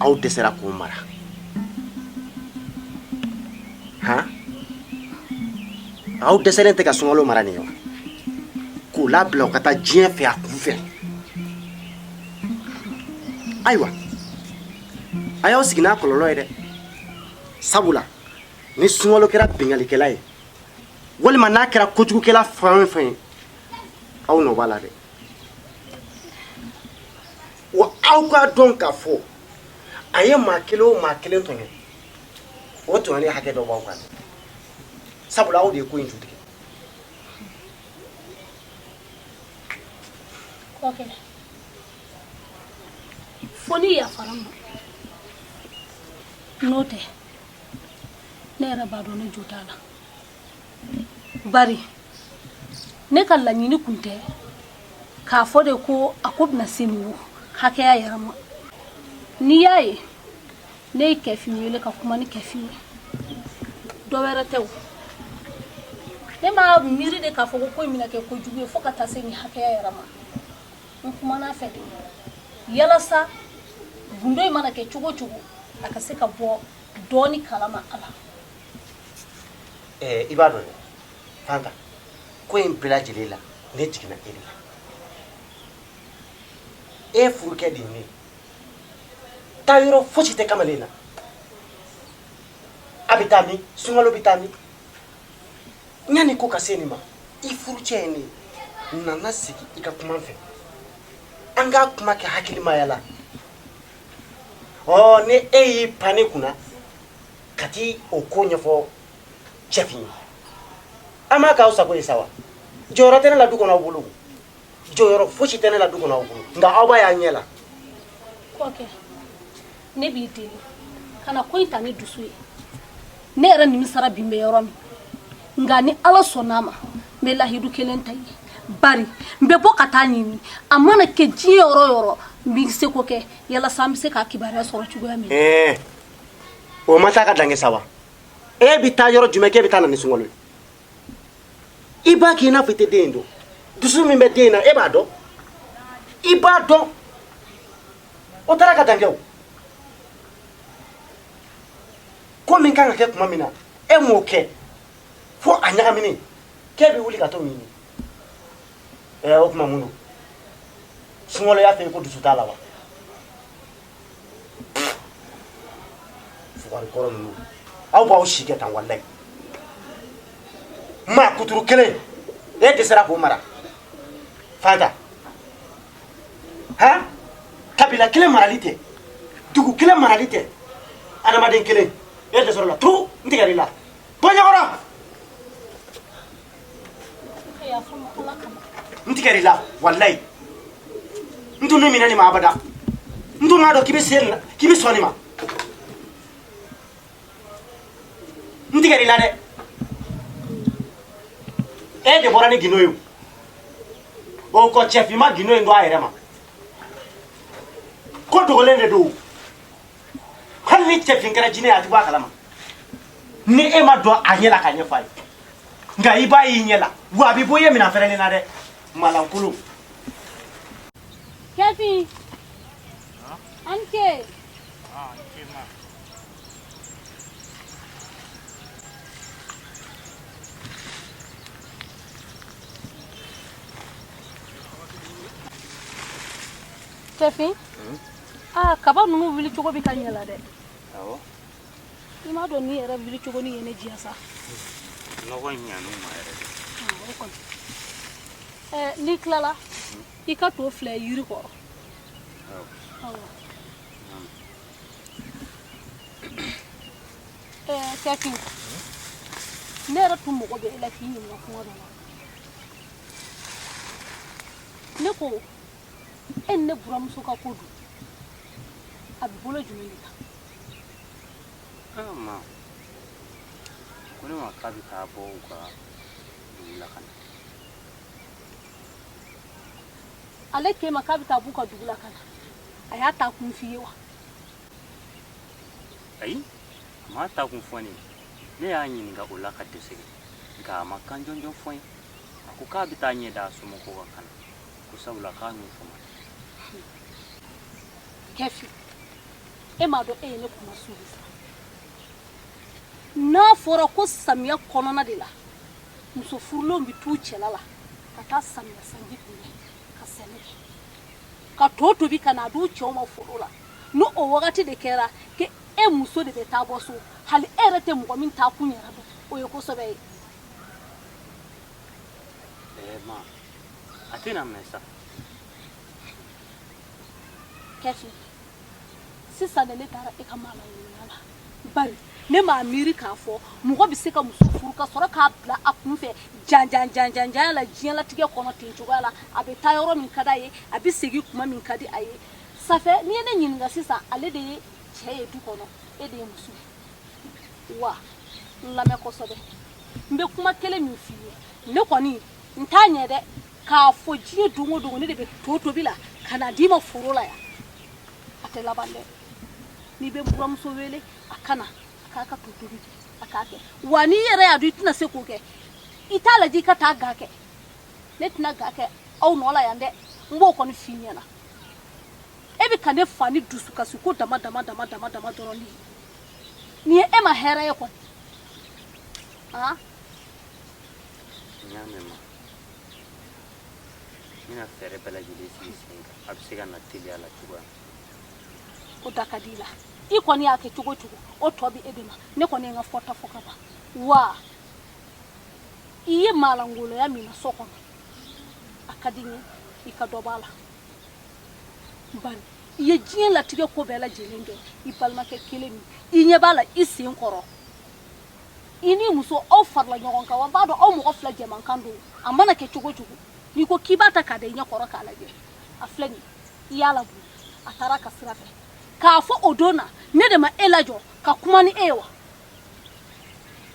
aw dɛsɛra k'o mara han aw dɛsɛlen tɛ ka sunkalo mara nin ye wa k'o labila o ka taa diɲɛ fɛ a kun fɛ ayiwa a y'aw sigi n'a kɔlɔlɔ ye dɛ sabula ni sunkalo kɛra binkalikɛla ye walima n'a kɛra kojugukɛla fɛn o fɛn ye aw nɔ b'a la dɛ wa aw k'a dɔn k'a fɔ a ye maa kelen o maa kelen tɔɲɔ o tɔɲɔni hakɛ dɔ b'aw kan sabula aw de ye ko in jutigɛ kɔkɛ fo n'i yafara n ma n'o tɛ ne yɛrɛ b'a dɔn ne jo t'a la bari ne ka laɲini kun tɛ k'a fɔ de ko a ko bɛna se nin hakɛya yɛrɛ ma n'i y'a ye ne ye kɛfin wele ka kuma ni kɛfin ye dɔ wɛrɛ tɛ o ne ma miiri de k'a fɔ ko ko in bɛna kɛ kojugu ye fo ka taa se nin hakɛya yɛrɛ ma n kumana a fɛ de yalasa gundo in mana kɛ cogo cogo a ka se ka bɔ dɔɔni kalama a la Ɛɛ i b'a dɔn fanta ko in bɛɛ lajɛlen la ne jiginna e la e furukɛ de ye taa yɔrɔ fosi tɛ kamalen na a bɛ taa min sunkalo bɛ taa min yanni ko ka se nin ma i furucɛ ye ne ye na ne sigi i ka kuma n fɛ an ka kuma kɛ hakilimaya la ɔ ni e y'i pan ne kunna ka taa o ko ɲɛfɔ cɛfin ye a ma k'aw sago ye sa wa jɔyɔrɔ tɛ ne la du kɔnɔ aw bolo jɔyɔrɔ fosi tɛ ne la du kɔnɔ aw bolo nka aw b'a y'aw ɲɛ la kɔkɛ ne b'i deli kana ko in ta ni dusu ye ne yɛrɛ nimisara bi n bɛ yɔrɔ min nka ni ala sɔnn'a ma n bɛ lahidu kelen ta i ye bari n bɛ bɔ ka t'a ɲini a mana kɛ diɲɛ yɔrɔ yɔrɔ n bɛ n seko kɛ yalasa an bɛ se k'a kibaruya sɔrɔ cogoya min na o ma taa ka dange sa wa e bɛ taa yɔrɔ jumɛn k'e bɛ taa na ni sunkalo ye i b'a k'i n'a fɔ i tɛ den in dɔn dusu min bɛ den in na e b'a dɔn i b'a dɔn o taara ka dange o ko min kan ka kɛ tuma min na e m'o kɛ fo a ɲagaminen k'e bɛ wuli ka t'o ɲini ɛ o tuma mun don sunkalo y'a f'e ye ko dusu t'a la wa aw b'aw si kɛ tan walayi maa kuturu kelen e dɛsɛra k'o mara fanta han kabila kelen marali tɛ dugu kelen marali tɛ adamaden kelen e dɛsɛr'o la turu n tigɛr'i la bɔ n ɲɛ kɔrɔ n tigɛr'i la walayi n tun m'i minɛ nin ma abada n tun m'a dɔn k'i bɛ se nin na k'i bɛ sɔn nin ma n tigɛr'i la dɛ e de bɔra ni gindo ye o o ko cɛfin ma gindo in dɔn a yɛrɛ ma ko dogolen de don hali ni cɛfin kɛra jinɛ ye a tɛ bɔ a kalama ni e ma don a ɲɛ la k'a ɲɛfɔ a ye nka i b'a y'i ɲɛ la wa a bɛ bɔ i ye minɛn fɛrɛlen na dɛ malankolon cɛfin. An ke. cɛfin. aa kaba ninnu wuli cogo bɛ ka ɲɛ la dɛ i m'a dɔn nin yɛrɛ wuli cogo nin ye ne diya sa nɔgɔ ɲan'u ma yɛrɛ o kɔni ɛɛ n'i tilala i ka to filɛ yiri kɔrɔ ɛɛ cɛfin ne yɛrɛ tun mago bɛ e la k'i ɲininka kuma dɔ la ne ko e ne buramuso ka ko dun a bɛ bolo jumɛn de kan a ko ne ma k'a bɛ taa bɔ u ka dugu la ka na ale k'e ma k'a bɛ taa b'u ka dugu la ka na a y'a ta kun f'i ye wa ayi a m'a ta kun fɔ ne ye ne y'a ɲininka o la ka dɛsɛ nka a ma kan jɔnjɔn fɔ n ye a ko k'a bɛ taa ɲɛ da a somɔgɔw kan ka na kusabula k'a ɲɛ fɔ cɛfin e m'a dɔn e ye ne kuma sugu sa n'a fɔra ko samiya kɔnɔna de la muso furulenw bɛ t'u cɛla la ka taa samiya sanji kunbɛn ka sɛnɛ kɛ ka to tobi ka na a d'u cɛw ma foro la ni o wagati de kɛra ko e muso de bɛ taa bɔ so hali e yɛrɛ tɛ mɔgɔ min taa kun yɛrɛ dɔn o ye ko sɛbɛ ye Eh, ma. A tɛna mɛn sa. Kɛsi. Sisan de ne dara e ka maalangoloya la. Bari ne m'a miiri k'a fɔ mɔgɔ bɛ se ka muso furu ka sɔrɔ k'a bila a kun fɛ jan jan jan jan jan la diɲɛlatigɛ kɔnɔ ten cogoya la a bɛ taa yɔrɔ min ka d'a ye a bɛ segin kuma min ka di a ye safɛ n'i ye ne ɲininka sisan ale de ye cɛ ye du kɔnɔ e de ye muso ye wa n lamɛn kosɛbɛ n bɛ kuma kelen min f'i ye ne kɔni n t'a ɲɛ dɛ k'a fɔ diɲɛ don o don ne de bɛ to tobi la ka na d'i ma foro la yan a tɛ laban dɛ n'i bɛ n buranmuso wele a ka na a k'a ka to tobi kɛ a k'a kɛ wa n'i yɛrɛ y'a dɔn i tɛna se k'o kɛ i t'a lajɛ i ka taa ga kɛ ne tɛna ga kɛ aw nɔ la yan dɛ n b'o kɔni f'i ɲɛna e bɛ ka ne fa ni dusukasiko dama dama dama dama dama dɔrɔn de nin ye e ma hɛrɛ ye kɔni aa n y'a mɛn ma n bɛna fɛɛrɛ bɛɛ lajɛlen sigi sen kan a bɛ se ka na teliya la cogoya o da ka di i la i kɔni y'a kɛ cogo cogo o tɔ bɛ e de ma ne kɔni ye n ka fɔta fɔ ka ban wa i ye maalangoloya min na so kɔnɔ a ka di n ye i ka dɔ b'a la bari i ye diɲɛ latigɛ ko bɛɛ lajɛlen kɛ i balimakɛ kelen min i ɲɛ b'a la i sen kɔrɔ i ni muso aw farala ɲɔgɔn kan wa b'a dɔn aw mɔgɔ fila jɛmankan don a mana kɛ cogo cogo n'i ko k'i b'a ta k'a da i ɲɛ kɔrɔ k'a lajɛ a filɛ nin i y'a labɔ a taara a ka sira fɛ k'a fɔ o don na ne de ma e lajɔ ka kuma ni e ye wa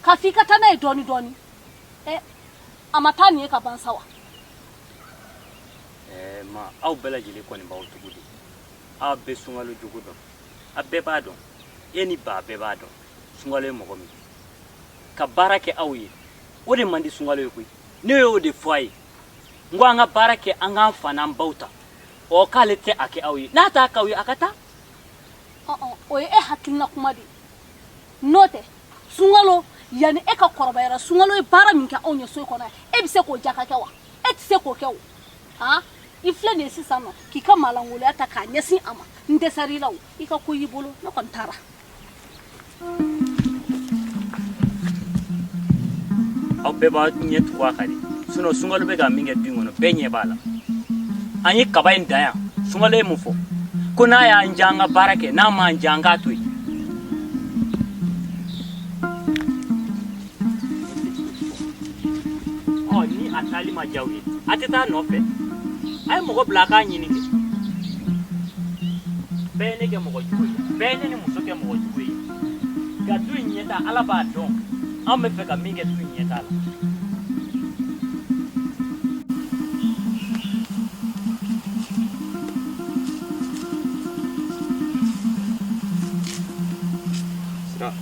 k'a f'i ka taa n'a ye dɔɔni dɔɔni ɛ a ma taa nin ye ka ban sa wa ɛɛ ma aw bɛɛ lajɛlen kɔni b'aw tugu de aw bɛ sunkalo jogo dɔn a bɛɛ b'a dɔn e ni ba bɛɛ b'a dɔn sunkalo ye mɔgɔ min ka baara kɛ aw ye o de man di sunkalo ye koyi ne y'o de fɔ a ye n ko an ka baara kɛ an k'an fa n'an baw ta ɔ k'ale tɛ a kɛ aw ye n'a t'a k'aw ye a ka taa o ye e hakilina kuma de ye n'o tɛ sunkalo yanni e ka kɔrɔbayara sunkalo ye baara min kɛ anw ye so kɔnɔ e bɛ se k'o jaka kɛ wa e tɛ se k'o kɛ o han i filɛ nin ye sisan na k'i ka maalangoloya ta k'a ɲɛsin a ma n dɛsɛra i la o i ka ko y'i bolo ne kɔni taara aw bɛɛ b'a ɲɛ tugu a kan de sinɔn sunkalo bɛ ka min kɛ du in kɔnɔ bɛɛ ɲɛ b'a la an ye kaba in dan yan sunkalo ye mun fɔ ko n'a y'an diya an ka baara kɛ n'a m'an diya an k'a to yen a taali ma diya aw ye a tɛ taa a nɔfɛ a ye mɔgɔ bila a k'a ɲini kɛ bɛɛ ye ne kɛ mɔgɔ jugu ye bɛɛ ye ne ni muso kɛ mɔgɔ jugu ye nka du in ɲɛta ala b'a dɔn an b'a fɛ ka min kɛ du in ɲɛta la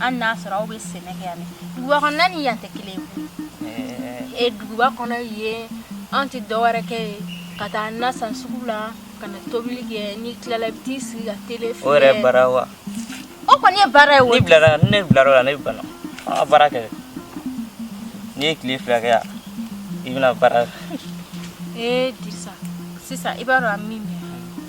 an n'a sɔrɔ aw bɛ sɛnɛ kɛ yan duguba kɔnɔ ni yan tɛ kelen ye duguba kɔnɔ yen an tɛ dɔwɛrɛ kɛ yen ka taa na san sugu la ka na tobili kɛ n'i tilala i bɛ t'i sigi ka tele o yɛrɛ baara wa o kɔni ye baara ye o bilara ne bilara la ne bana an ka baara kɛ n'i ye tile fila kɛ yan i bɛna baara ee Dirisa sisan i b'a dɔn an min bɛ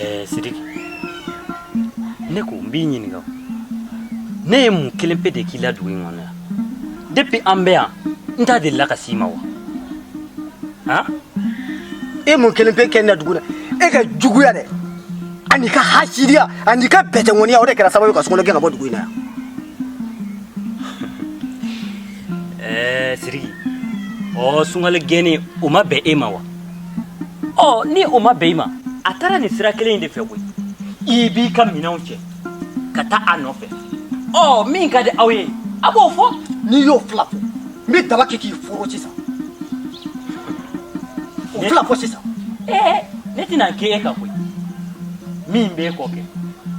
Ɛɛ Sidiki ne ko n b'i ɲininka ne ye mun kelen pe de k'i la dugu in kɔnɔ yan depuis an bɛ yan ne delila ka s'i ma wa han e mun kelen pe kɛ n na dugu la e ka juguya dɛ ani ka hasidiya ani ka bɛtɛŋɔniya o de kɛra sababu ye ka sunkalo gɛn ka bɔ dugu in na yan ɛɛ Sidiki ɔ sunkalo gɛnni o ma bɛn e ma wa ɔ ni o ma bɛn i ma a taara nin sira kelen in de fɛ koyi i b'i ka minɛnw cɛ ka taa a nɔfɛ ɔ min ka di aw ye a b'o fɔ n'i y'o fila fɔ n bɛ daba kɛ k'i foro sisan o fila fɔ sisan ee ne tɛna kɛ e ka koyi min b'e kɔ kɛ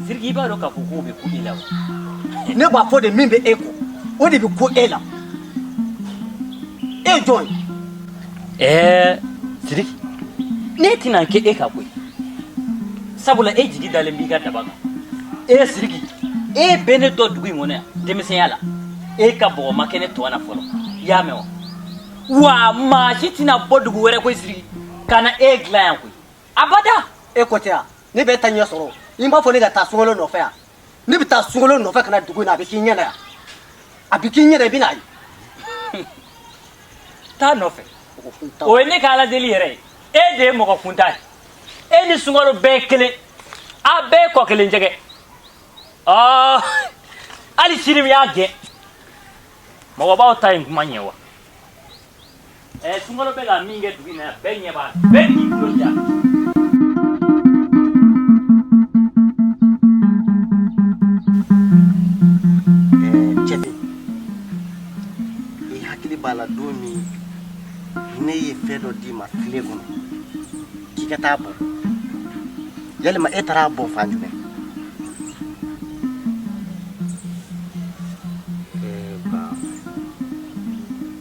Sidiki i b'a dɔn k'a fɔ k'o bɛ ku i la wa ne b'a fɔ de min bɛ e kɔ o de bɛ ku e la e ye jɔn ye Ɛɛ Sidiki ne tɛna kɛ e ka koyi sabula e jigi dalen b'i ka daba kan ee Sidiki e bɛ ne dɔn dugu in kɔnɔ yan denmisɛnya la e ka bɔgɔ ma kɛ ne tɔn na fɔlɔ i y'a mɛn wa wa maa si tɛna bɔ dugu wɛrɛ koyi Sidiki ka na e dilan yan koyi abada e ko tɛ yan ne bɛ taa n'a y'a sɔrɔ i b'a fɔ ne ka taa sunkalo nɔfɛ yan ne bɛ taa sunkalo nɔfɛ ka na dugu in na a bɛ k'i ɲɛ na yan a bɛ k'i ɲɛ na i bɛn'a ye taa nɔfɛ o ye ne ka ala deli yɛrɛ ye e de ye mɔgɔ kuntan ye e ni sunkalo bɛɛ ye kelen a bɛɛ ye kɔ kelen jɛgɛ ɔɔ hali sini n y'a gɛn mɔgɔbaw ta ye kuma in ye wa Ɛɛ sunkalo bɛ ka min kɛ dugu na bɛɛ ɲɛ bɛɛ ni jɔja i hakili b'a la don min ne ye fɛn dɔ d'i ma filen kɔnɔ k'i ka t'a bɔn yalima e taara a bɔn fan jumɛn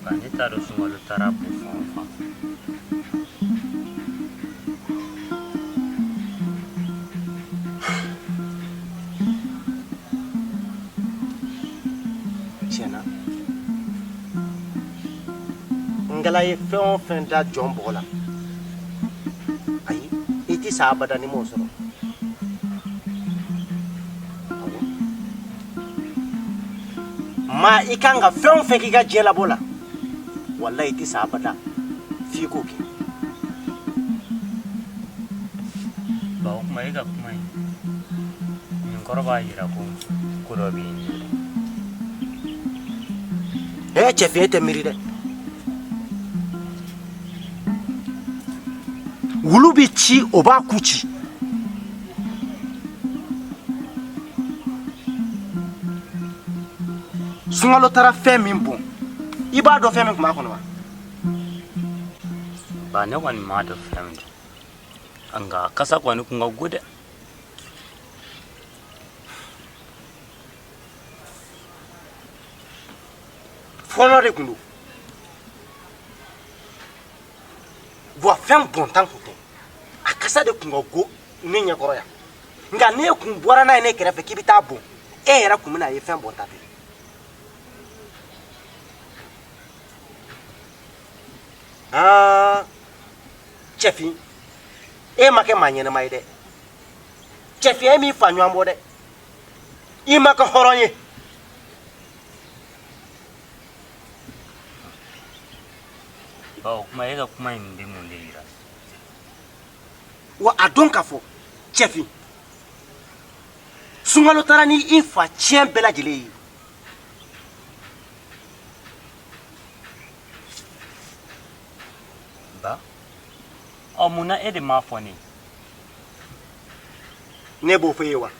nka ne t'a dɔn sunkalo taara a bɔn fan o fan tiɲɛ na ngala ye fɛn o fɛn da jɔn bɔgɔ la ayi i tɛ sa abada n'i m'o sɔrɔ maa i kan ka fɛn o fɛn k'i ka diɲɛ labɔ la walayi i tɛ sa abada f'i k'o kɛ ba o tuma e ka kuma in nin kɔrɔ b'a jira ko ko dɔ bɛ yen ee cɛfin e tɛ miiri dɛ wulu bɛ ci o b'a ku ci sunkalo taara fɛn min bɔn i b'a dɔn fɛn min tun b'a kɔnɔ wa ba ne kɔni m'a dɔn fɛn min don nka kasa kɔni kun ka go dɛ fɔɔnɔ de tun don wa fɛn bɔnta tun tɛ a kasa de tun ka go ne ɲɛkɔrɔ yan nka n'e kun bɔra n'a ye ne kɛrɛfɛ k'i bɛ t'a bɔn e yɛrɛ kun bɛna a ye fɛn bɔnta tɛ cɛfin e ma kɛ maa ɲɛnama ye dɛ cɛfin e m'i fa ɲɔgɔn bɔ dɛ i ma kɛ hɔrɔn ye O kuma e ka kuma in bɛ mun de jira wa a dɔn k'a fɔ cɛfin sunkalo taara ni i fa ciyɛn bɛɛ lajɛlen ye ba ɔ mun na e de m'a fɔ ne ne b'o fɔ e ye wa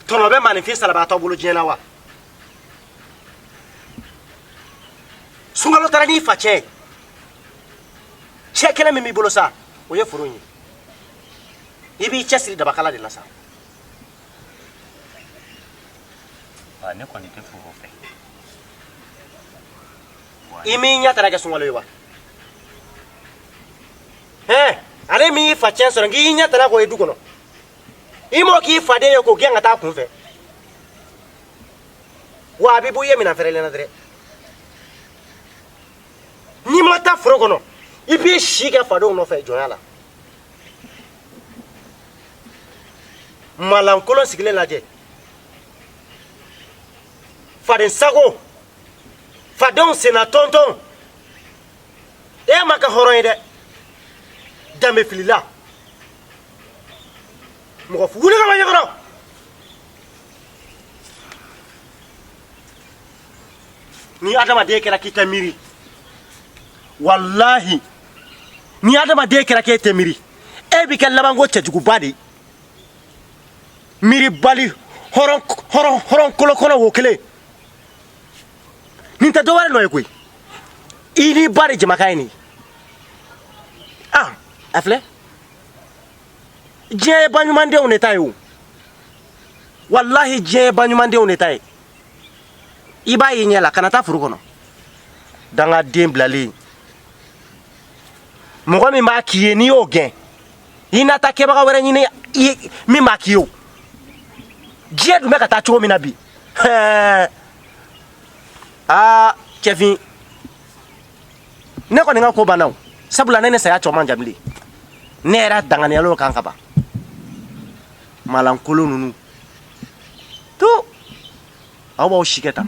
tɔnɔ bɛ maaninfin salabaatɔ bolo diɲɛ na wa sunkalo taara n'i fa cɛn ye cɛn kelen min b'i bolo sa o ye foro in ye i b'i cɛsiri dabakala de la sa wa ne kɔni tɛ foro fɛ i m'i ɲɛ tara kɛ sunkalo ye wa hɛn ale min y'i fa cɛn sɔrɔ k'i ɲɛ tara k'o ye du kɔnɔ i m'o k'i faden ye k'o gɛn ka taa a kun fɛ wa a bɛ bo ye minɛn fɛrɛlen na dɛrɛ n'i ma taa foro kɔnɔ i b'i si kɛ fadenw nɔfɛ jɔnya la malankolon sigilen lajɛ fadensago fadenw senna tɔntɔn e ma kɛ hɔrɔn ye dɛ danbefilila mɔgɔ fu wuli ka bɔ n ɲɛkɔrɔ ni adamaden kɛra k'i tɛ miiri walahi ni adamaden kɛra k'e tɛ miiri e bɛ kɛ labanko cɛjuguba de ye miiribali hɔrɔn hɔrɔn hɔrɔn kolokolo wo kelen nin tɛ dɔwɛrɛ nɔ ye koyi i n'i ba de jamakan ye nin ye ah a filɛ diɲɛ ye baɲumandenw de ta ye o walahi diɲɛ ye baɲumandenw de ta ye i b'a y'i ɲɛ la kana taa foro kɔnɔ dangaden bilalen mɔgɔ min b'a k'i ye n'i y'o gɛn i na taa kɛbaga wɛrɛ ɲini min b'a k'i ye o diɲɛ dun bɛ ka taa cogo min na bi aa cɛfin ne kɔni ka ko banna o sabula ne ni saya cɛ man jan bilen ne yɛrɛ danganiyalo kan ka ban malankolon ninnu to aw b'aw si kɛ tan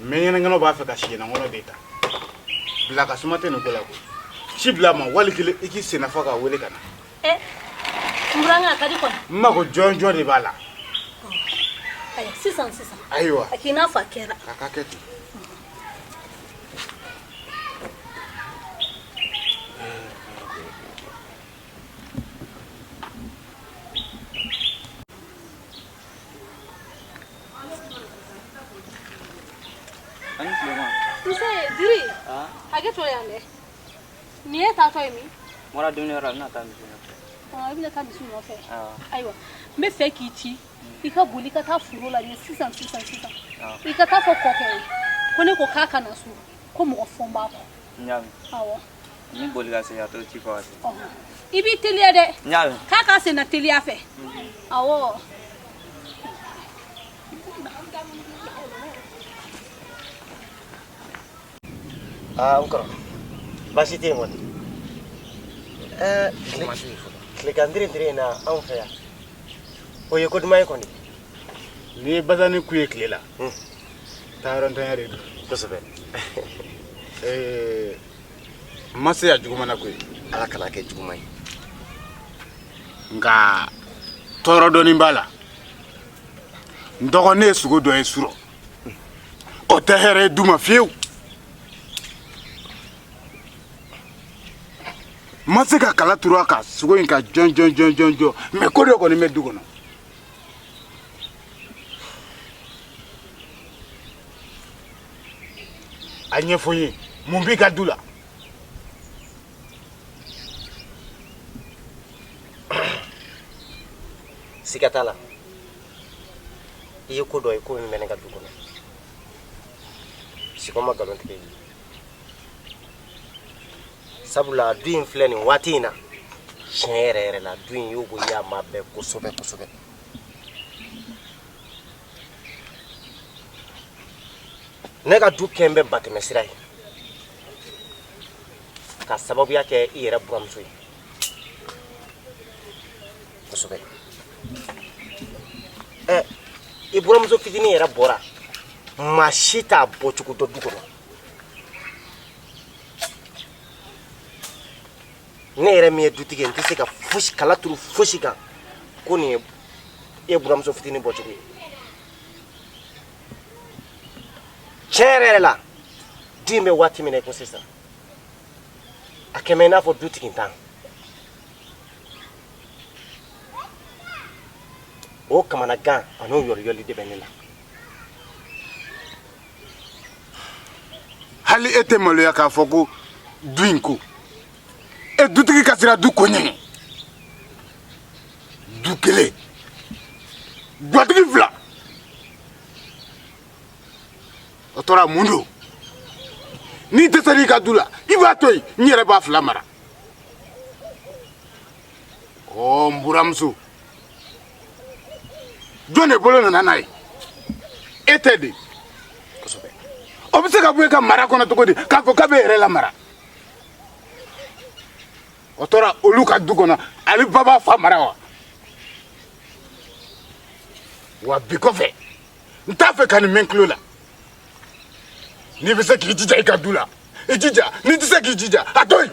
mɛɲɛnɛnkɛnɛw b'a fɛ ka siɲɛnankɔnɔ de ta bila ka suma tɛ nin ko la koyi ci bila a ma wali kelen i k'i sennafa k'a wele ka na eh, n burankɛ a ka di kɔni n mago jɔnjɔn de b'a la ayiwa sisan sisan ayiwa a k'i n'a fɔ a kɛra a ka kɛ ten ayiwa n b'a fɛ k'i ci i ka boli ka taa foro la sisan sisan sisan i ka t'a fɔ kɔkɛ ye ko ne ko k'a ka na so ko mɔgɔ fɔ n b'a kɔ Ni boli ka se a to ci fɔ i b'i teliya dɛ k'a k'a sen teliya fɛ ɔ aa n kɔrɔ baasi tɛ yen kɔni ɛɛ tilegan tirintiri in na anw fɛ yan o ye ko duman ye kɔni n'i ye basanin ku ye tile la taayɔrɔntanya de don kosɛbɛ Eh, n ma se yan juguman na ko ye ala kan'a kɛ juguman ye nka tɔɔrɔ dɔɔnin b'a la n dɔgɔ ne ye sugo dɔ ye surɔ o tɛ hɛrɛ ye du ma fiyewu n ma se ka kala turu a kan sugo in kan jɔn jɔn jɔn jɔn jɔn mɛ ko dɔ kɔni bɛ du kɔnɔ a ɲɛfɔ n ye mun b'i ka du la siga t'a la i ye ko dɔ ye ko min bɛ ne ka du kɔnɔ sugo ma nkalon tigɛ i ye sabula du in filɛ nin waati in na tiɲɛ yɛrɛ yɛrɛ la du in y'o ko y'a ma bɛɛ kosɛbɛ kosɛbɛ ne ka du kɛn bɛ batɛmɛ sira ye ka sababuya kɛ i yɛrɛ buramuso ye kosɛbɛ ɛ eh, i buramuso fitinin yɛrɛ bɔra maa si t'a bɔcogo dɔn du kɔnɔ ne yɛrɛ min ye dutigi ye n tɛ se ka kala turu fosi kan ko nin ye e buramuso fitinin bɔcogo ye tiɲɛ yɛrɛ yɛrɛ la du in bɛ waati min na i ko sisan a kɛn bɛ i n'a fɔ dutigintan o kamanagan an'o yɔriyɔli de bɛ ne la hali e tɛ maloya k'a fɔ ko du in ko e dutigi ka siran du ko ɲɛ du kelen gatigi fila o tora mun don n'i dɛsɛr'i ka du la i b'a to yen n yɛrɛ b'a fila mara ɔ n buramuso jɔn de bolo nana n'a ye e tɛ de kosɛbɛ o bɛ se ka bɔ e ka mara kɔnɔ cogo di k'a fɔ k'a bɛ yɛrɛ lamara o tora olu ka du kɔnɔ ale ba b'a fa mara wa wa bi kɔfɛ n t'a fɛ ka nin mɛn tulo la n'i bɛ se k'i jija i ka du la i jija n'i tɛ se k'i jija a to yen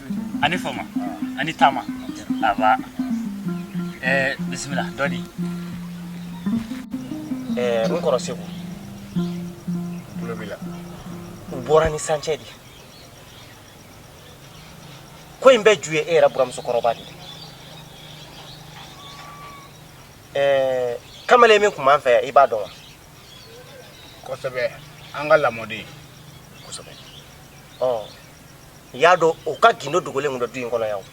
a ni fama a ni taama nba ɛɛ bisimila dɔ di ɛɛ n kɔrɔ segu tulo b'i la u bɔra ni sancɛ de ko in bɛɛ ju ye e yɛrɛ buramusokɔrɔba de ɛɛ kamalen min tun b'an fɛ yan i b'a dɔn wa kosɛbɛ an ka lamɔden kosɛbɛ ɔ i y'a dɔn o ka gindo dogolen tun bɛ du in kɔnɔ yan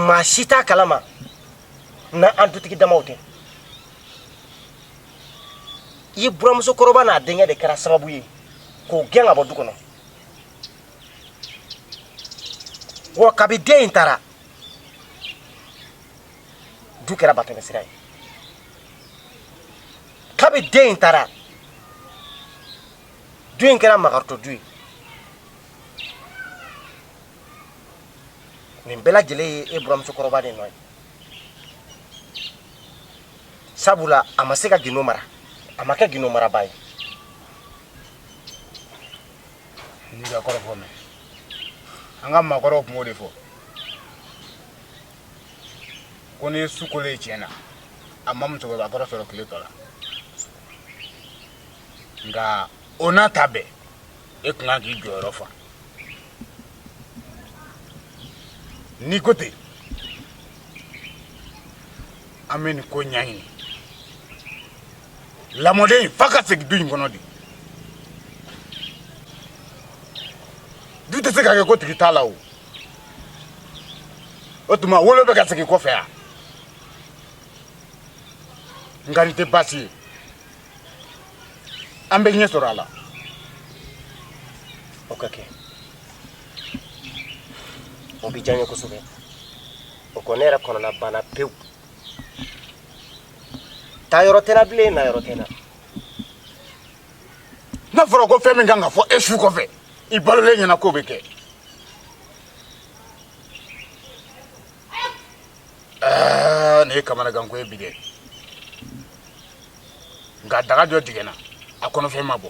maa si t'a kalama n'an dutigi damaw tɛ i buramuso kɔrɔba n'a denkɛ de kɛra sababu ye k'o gɛn ka bɔ du kɔnɔ wa kabi den in taara du kɛra batɛmɛsira ye kabi den in taara du in kɛra makaritɔ du ye nin bɛɛ lajɛlen ye e buramusokɔrɔba de nɔ ye sabula a ma se ka gindo mara a ma kɛ gindo maraba ye n y'i ka kɔrɔfɔ mɛn an ka maakɔrɔw tun b'o de fɔ ko ni su kolo ye tiɲɛ na a ma maakɔrɔ sɔrɔ tile tɔ la nka o n'a ta bɛɛ e tun ka kan k'i jɔyɔrɔ fa n'i ko ten an bɛ nin ko ɲɛɲini lamɔden fa ka segin du in kɔnɔ de du tɛ se ka kɛ kotigi t'a la o o tuma wolo bɛ ka segin kɔfɛ yan nka nin tɛ baasi ye an bɛ ɲɛ sɔrɔ a la o ka kɛ o bɛ diya n ye kosɛbɛ o kɔ ne yɛrɛ kɔnɔna banna pewu taa yɔrɔ tɛ n na bilen na yɔrɔ tɛ n na n'a fɔra ko fɛn min ka kan ka fɔ e su kɔfɛ i balolen ɲɛna k'o bɛ kɛ aa nin ye kamanagan ko ye bi dɛ nka daga dɔ jiginna a kɔnɔfɛn ma bɔ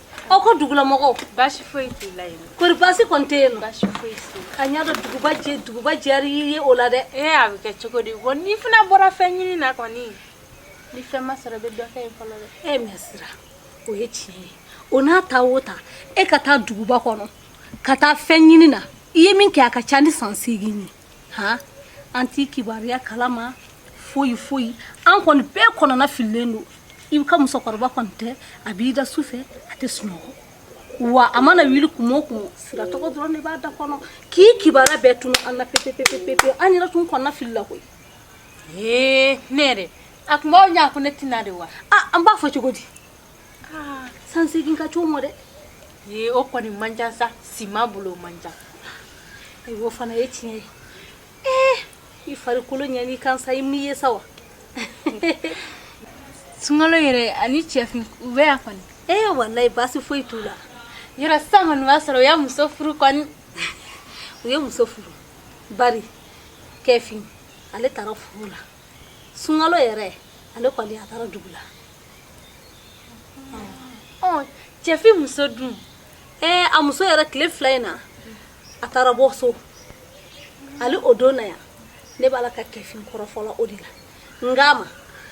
aw ka dugulamɔgɔw baasi foyi t'i la yen kori baasi kɔni tɛ yen nɔ baasi foyi t'i la a ɲɛ dɔ duguba jɛ duguba diyara i ye o la dɛ ee a bɛ kɛ cogo di bɔn n'i fana bɔra fɛn ɲini na kɔni ni fɛn ma sɔrɔ i bɛ dɔ kɛ yen fɔlɔ dɛ ee mɛ sira o ye tiɲɛ ye o n'a ta o ta e ka taa duguba kɔnɔ ka taa fɛn ɲini na i ye min kɛ a ka ca ni san seegin ye han an t'i kibaruya kalama foyi foyi an kɔni bɛɛ kɔnɔna fililen don i ka musokɔrɔba kɔni tɛ a b'i da su fɛ a tɛ sunɔgɔ wa a mana wuli kuma o kuma sira tɔgɔ dɔrɔn de b'a da kɔnɔ k'i kibaruya bɛɛ tunu an na pepepepepe an yɛrɛ tun kɔnɔna filila koyi ee ne yɛrɛ a tun b'aw ɲɛ ko ne tɛ na de wa a an b'a fɔ cogo di ah, san seegin ka ca o mɔ dɛ ye o kɔni man ca sa sima bolo man ca ayiwa o fana ye tiɲɛ ye ee i farikolo ɲɛn'i kan sa i m'i ye sa wa sunkalo yɛrɛ ani cɛfin u bɛ yan kɔni ee walayi baasi foyi t'u la yɔrɔ sisan kɔni b'a sɔrɔ u y'a muso furu kɔni u ye muso furu bari cɛfin ale taara foro la sunkalo yɛrɛ ale kɔni a taara dugu la cɛfin muso dun ɛɛ a muso yɛrɛ tile fila in na a taara bɔ so hali o don na yan ne b'a la ka cɛfin kɔrɔfɔ o de la n k'a ma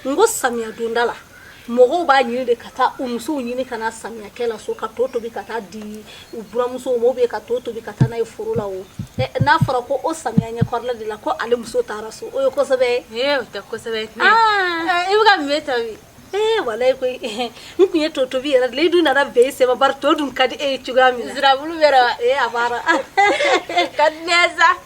n ko samiya donda la mɔgɔw b'a ɲini de ka taa u musow ɲini ka na samiya kɛ la so ka to tobi ka taa di U buranmuso ma u bɛ ka to tobi ka taa n'a ye foro la n'a fɔra ko o samiya ɲɛkɔrɔla de la ko ale muso taara so o ye ko sɛbɛ ye walayi koyi n tun ye to tobi yɛrɛ de la i dun nana bɛn i sen ma bari to dun ka di e ye cogoya min na ka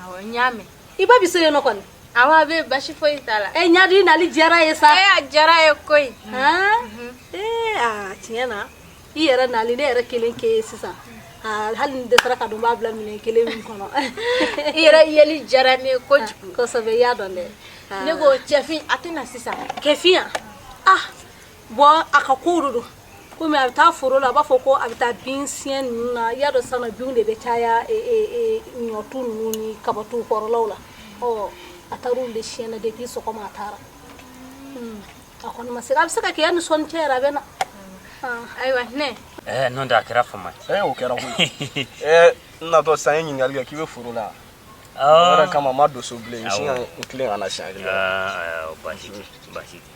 awɔ n y'a mɛn i ba bɛ so yen nɔ kɔni awɔ a bɛ baasi foyi t'a la ɛ ɲadi i nali diyara n ye sa ee a diyara n ye koyi ee aa tiɲɛ na i yɛrɛ nali ne yɛrɛ kelen kɛ ye sisan hali n dɛsɛra k'a dɔn n b'a bila minɛn kelen min kɔnɔ i yɛrɛ yeli diyara ne ye kojugu kosɛbɛ i y'a dɔn dɛ ne ko cɛfin a tɛ na sisan kɛfin yan ah bɔn a ka kow de don komi a bɛ taa foro la a b'a fɔ ko a bɛ taa bin siɲɛ ninnu na i y'a dɔn sisan nɔ binw de bɛ caya e, e, e, ɲɔtu ninnu ni kabatu kɔrɔlaw la ɔ a taara olu de siɲɛ na depuis sɔgɔma a taara Hmm. a kɔni ma se a bɛ se ka kɛ yan ni sɔɔni cɛ yɛrɛ a bɛ na Hmm. ayiwa hinɛ Eh, non da kɛra fama. ee o kɛra koyi ee n natɔ sa n ye ɲininkali kɛ k'i bɛ foro la o yɛrɛ Oh. kama n ma don so bilen n sin ka n tilen ka na siɲɛ kelen Ah, ah, basi tɛ, basi tɛ.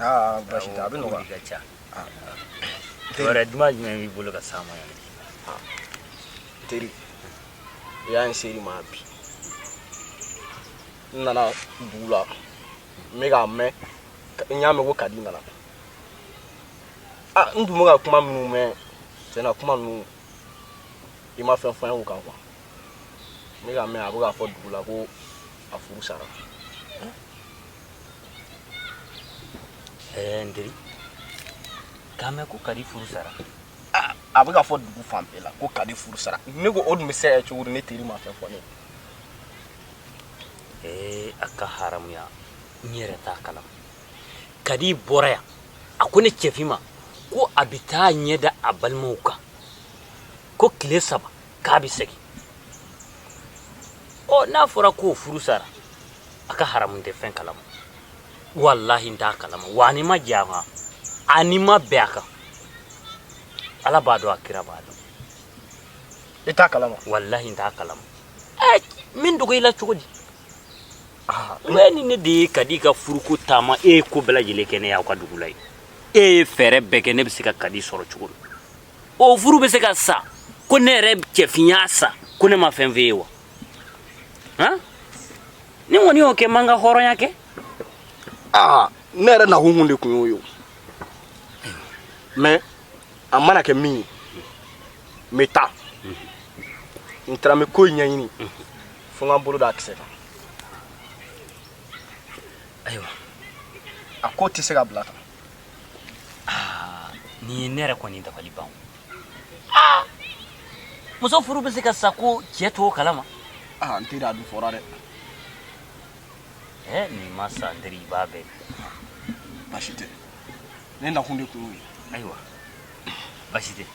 aa basi tɛ a bɛ nɔgɔya ka ca wɛrɛ duman jumɛn b'i bolo ka s'a ma yan teri i y'a n seri ma bi n nana dugu la n bɛ k'a mɛn n y'a mɛn ko kadi nana ah n tun bɛ ka kuma minnu mɛn tiɲɛ na kuma ninnu i ma fɛn fɔ n ye o kan kuwa n bɛ k'a mɛn a bɛ k'a fɔ dugu la ko a furu sara N teri k'a mɛn ko kadi furu sara a bɛ ka fɔ dugu fan bɛɛ la ko kadi furu sara ne ko o dun bɛ se ka kɛ cogo di ne teri ma fɛn fɔ ne ye a ka haramuya n yɛrɛ t'a kalama kadi bɔra yan a ko ne cɛfin ma ko a bɛ taa ɲɛ da a balimaw kan ko tile saba k'a bɛ segin ɔ n'a fɔra k'o furu sara a ka haramu n tɛ fɛn kalama walahi n t'a kalama wa ani ma jɛ a kan ani ma bɛn a kan ala b'a dɔn a kira b'a dɔn i t'a kalama walahi n t'a kalama ɛ nin dogo i la cogo di mɛ ni ne de ye kadi ka furuko taama e ye ko bɛɛ lajɛlen kɛ ne y'aw ka dugu la yen e ye fɛɛrɛ bɛɛ kɛ ne bɛ se ka kadi sɔrɔ cogo min o furu bɛ se ka sa ko ne yɛrɛ cɛfin y'a sa ko ne ma fɛn fɔ e ye wa han ni n kɔni y'o kɛ n ma n ka hɔrɔnya kɛ aa ne yɛrɛ nakun kun de kun y'o ye o mɛ a mana kɛ min ye n bɛ taa n taara n bɛ ko in ɲɛɲini fo n ka n bolo d'a kisɛ kan ayiwa a ko tɛ se ka bila tan Ah, nin ye ne yɛrɛ kɔni dabali ban ah! muso furu bɛ se ka sa ko cɛ t'o kalama ah, n teri a dun fɔra dɛ eh, n'i ma sa n teri i b'a bɛɛ basi tɛ ne nakun de kun ye ayiwa basi tɛ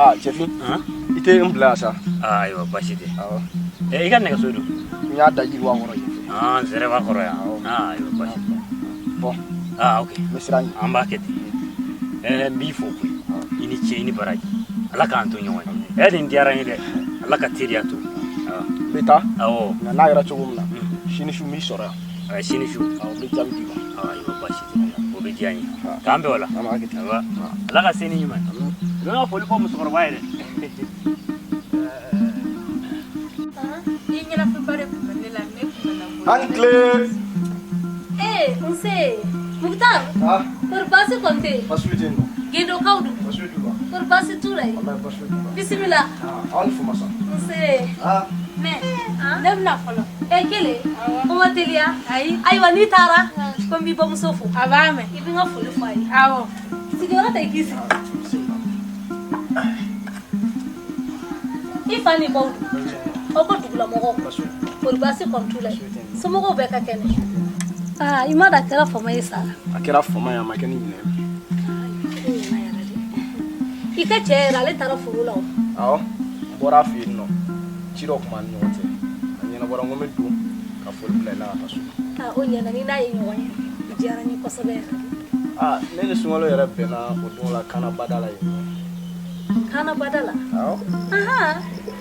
aa cɛfin i tɛ n bila sa ayiwa basi tɛ i ka nɛgɛso dun n y'a da jiriba kɔrɔ yen nsiraba kɔrɔ yan ayiwa basi tɛ bɔn aa ok n bɛ sira ɲini an b'a kɛ ten ɛɛ n b'i fo koyi i ni ce i ni baraji ala k'an to ɲɔgɔn ye ɛɛ nin diyara n ye dɛ ala ka teriya to n bɛ taa nka n'a kɛra cogo min na sini su n b'i sɔrɔ yan a sini su n bɛ jaabi d'i ma ayiwa baasi tɛ o bɛ diya n ye k'an bɛn o la ala ka se ni ɲuman ye n ka foli fɔ musokɔrɔba ye dɛ A ni tile. Ee nse Mukutar. Kɔri baasi kɔni tɛ yen. Baasi foyi tɛ yen. Gindo kaw dun. Baasi foyi t'u la. Kɔri baasi t'u la yen. bisimila aw ni fama sa nse mɛ ne bɛna fɔlɔ e kelen o ma teliya ayi ayiwa n'i taara ko n b'i bamuso fo a b'a mɛn i bɛ n ka foli fɔ a ye awɔ sigiyɔrɔ ta i k'i sigi i fa ni ba dun aw ka dugulamɔgɔw kɔri baasi kɔni t'u la somɔgɔw bɛɛ ka kɛnɛ aa i ma da a kɛra fama ye sa a kɛra fama ye a ma kɛ ni ɲinɛ ye i ka cɛ yɛrɛ ale taara foro la o awɔ n bɔra a fɛ yen nɔ ci dɔ tun b'an ni ɲɔgɔn cɛ a ɲɛnabɔra n ko n bɛ don ka foli bila i la ka taa so aa o ɲɛna n'i n'a ye ɲɔgɔn ye a diyara n ye kosɛbɛ yɛrɛ aa ne ni sunkalo yɛrɛ bɛnna o don la kaana bada la yen nɔ kaana bada la awɔ ahan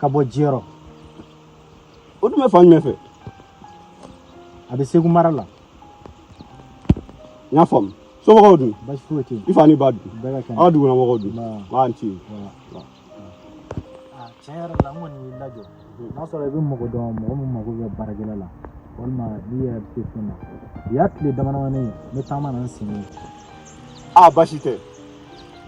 ka bɔ jiyɔrɔ o dun bɛ fan jumɛn fɛ a bɛ segu mara la n y'a faamu somɔgɔw dun basi foyi tɛ yen i fa ni ba dun bɛɛ ka kɛnɛ aw duguna mɔgɔw dun Nba. a ni ce Ah, tiɲɛ yɛrɛ la n kɔni y'i lajɔ n'a sɔrɔ i bɛ mɔgɔ dɔn mɔgɔ min mago bɛ baarakɛla la walima n'i yɛrɛ bɛ se fɛn na u y'a tile damadamanin ye ne taama na n sen ye a basi tɛ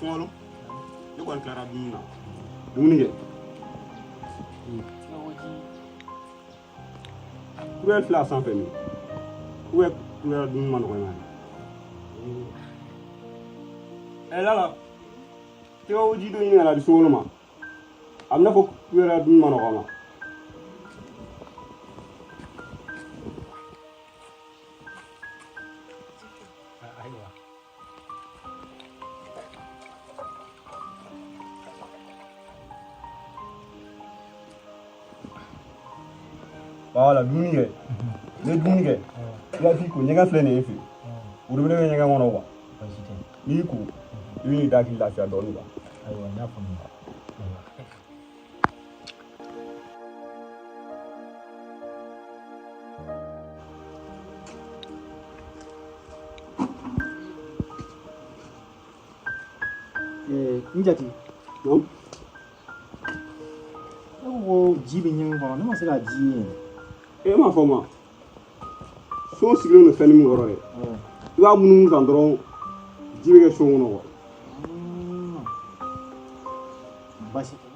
Sunkalo ne kɔni tilara dumuni na dumuni kɛ kubɛri filɛ sanfɛ min kubɛ kubɛri dumuni man nɔgɔn ɛ lala tɛgɛkoji dɔ ɲini ka na di sunkalo ma am na kubɛri dun man nɔgɔ a ma wala dumuni kɛ ne dumuni kɛ i ka fi ko ɲɛgɛn filɛ nin ye ji worobinɛ bɛ ɲɛgɛn kɔnɔ wa n'i ko i b'i da k'i lafiya dɔɔnin kan ayiwa n y'a faamuya n jati ko ji bɛ ɲɛgɛn kɔnɔ ne ma se ka ji ye e m'a fɔ ma so sigilen don fɛnni min kɔrɔ dɛ i b'a munumunu kan dɔrɔn ji bɛ kɛ so kɔnɔ kuwa basi tɛ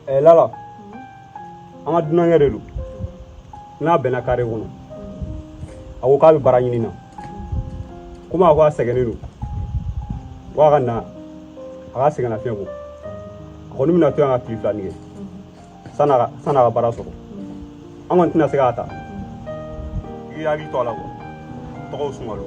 ɛɛ lala an ka dunankɛ de don n n'a bɛnna kare kɔnɔ a ko k'a bɛ baara ɲini na komi a ko a sɛgɛnnen don ko a ka na a ka sɛgɛnnafiɲɛ bɔ a kɔni bɛna to yan ka tile fila nin kɛ san'a ka san'a ka baara sɔrɔ an kɔni tɛna se k'a ta i hakili to a la kuwa tɔgɔw sunkalo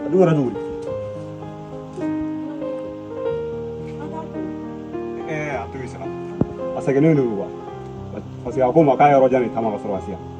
a dun kɛra cogo di ɛɛ a to i sara a sɛgɛnnen de don kuwa parce que a ko n ma k'a yɔrɔ jan de taama ka sɔrɔ ka se yan